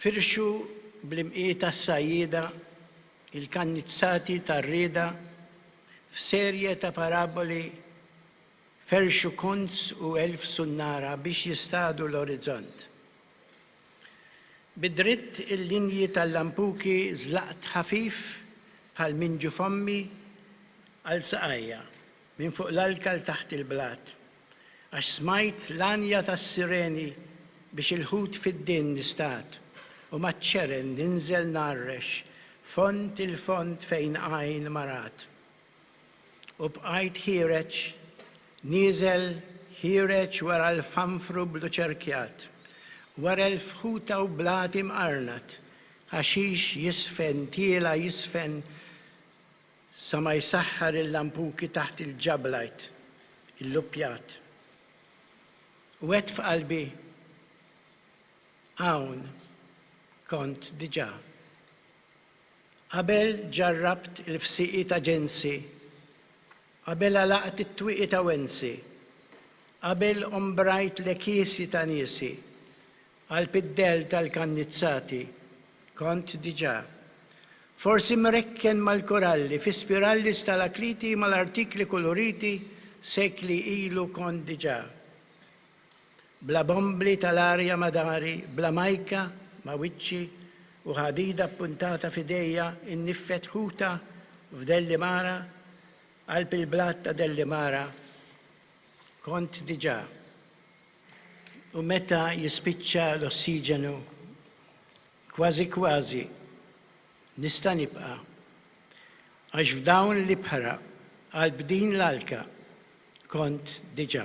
Firxu bl-imqiegħda s-sajjieda il-kannizzati tar-rieda f'serje ta' paraboli ferxu kunz u elf sunnara biex jistadu l-orizzont. Bi dritt il-linji tal-lampuki żlaqt ħafif bħal minn ġufommi għal saqajja, minn fuq l-alka 'l taħt il-blat. Għax smajt l-għanja tas-sireni biex il-ħut fid-din nistad, u maċ-ċeren ninżel ngħarrex fond il-fond fejn għajn ma rat. U bqajt ħiereġ, nieżel, ħiereġ wara l-fanfru bluċerkjat, wara l-fħuta u blati mqarnat, ħaxix jisfen tiela' jisfen Sa ma jsaħħar il-lampuki taħt il-ġablajt illuppjat. U għedt f'qalbi, Hawn kont diġà. Qabel ġarrabt il-fsieqi ta' ġensi, qabel għalaqt it-twieqi ta' wensi, qabel ombrajt l-għekiesi ta' niesi, Għall-piddell tal-kannizzati kont diġà forsi mrekken mal-koralli fi spiralli stalakliti mal-artikli kuluriti sekli ilu kont diġà bla bombli tal-arja ma' dari bla majka ma' wiċċi u ħadida ppuntata f'idejja nniffet ħuta f'Dellimara qalb il-blat ta' Dellimara kont diġà U meta jispiċċa l-ossiġenu, kważi kważi nista' nibqa', għax f'dawn l-ibħra qalb din l-alka kont diġà.